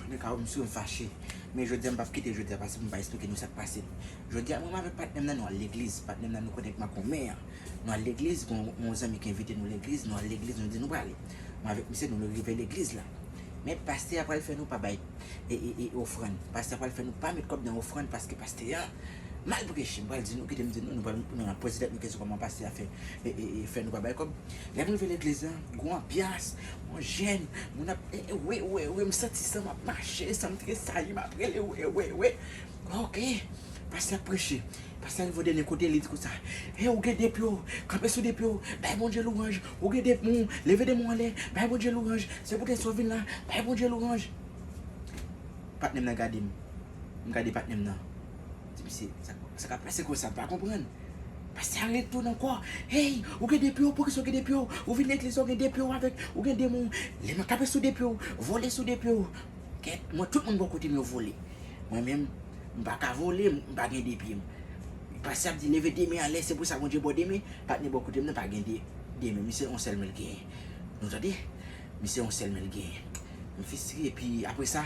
Mwen ka wè msou m fache, men jodia m pap kite jodia pase pou m pa esplike nou sak pase. Jodia mwen avèk patnèm nan nou al legliz, patnèm nan nou konnen k makomè an. Nou al legliz, gen yon zanmi ki envite nou legliz, nou al legliz nou di nou prale. Mwen avèk misye nou rive legliz la. Men pastè a pral fè nou pa bay e ofrann. Pastè a pral fè nou pa met kòb nan ofrann paske pastè a mal preche. M pral di nou, kite m di nou, nou pral nou nan poze tèt nou kesyon kòman pastè a fè e fè nou pa bay kòb. Lèm rive legliz lan gou anbyans bon jèn moun ap we we we m santi sanm ap mache sanm tresayi map rele we we we ok pastè ap preche pastè rive dènye kote li di konsa e ou gen 2 pye w kanpe sou 2 pye w bay Bondye louwanj ou gen 2 moun leve 2 moun anlè bay Bondye louwanj se pou tèt sa w vin la bay Bondye louwanj patnèm nan gade m m gade patnèm nan. Depi se sa kap pase konsa m pa konprann. Pastè a ret tou nan kò. Hey ou gen depiw poukisa ou gen depiw ou vin legliz la ou gen depiw avèk ou gen demon lè mwen tape sou depiw vole sou depiw kèt mwen tout moun bò kote m yo vole mwen menm m pa ka vole m pa gen depi m pastè ap di leve de men anlè se pou sa Bondye bò de men patnè bò kote m nan pa gen de de men misye yon sèl men l genyen nou tande misye yon sèl men l genyen m fistre epi apresa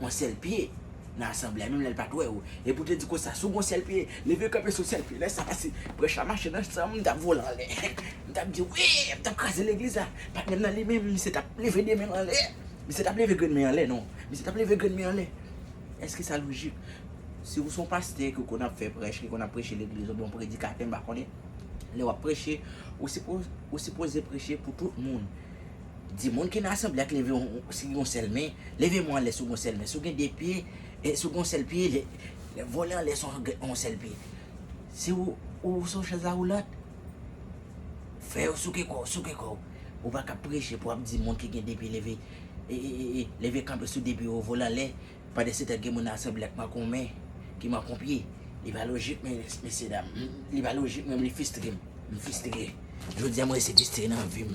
on sèl pye nan asanble a menm lè l pa t wè ou e pou te di konsa si w gen yon sèl pye leve kanpe sou sèl pye lè sa a si prèch la mache nan san m m t ap vole anlè m t ap di wi m t ap kraze legliz la patnè m nan li menm misye t ap leve de men l anlè misye t ap leve grenn men anlè non misye t ap leve grenn men anlè èske sa lojik si w s on pastè ki w konn ap fè prèch ki w konn ap preche legliz ou byen w on predikatè m pa konnen lè w ap preche ou sipoze preche pou tout moun. Di moun ki nan asanble a k leve si gen yon sèl men, leve men w anlè si w gen yon sèl men. Si w gen de pye, si w gen yon sèl pye, vole anlè si w gen yon sèl pye. Si ou sou yon chèz awoulant, fè yo souke kò w, souke kò w. Ou pa ka preche pou w ap di moun ki gen de pye leve kanpe sou de pye yo, vole anlè. Pande se tèt gen moun asanble ak mankon men ki mankon pye li pa lojik mesye dam li pa lojik menm li fistrem m fistre jodia m resi fistre nan vim.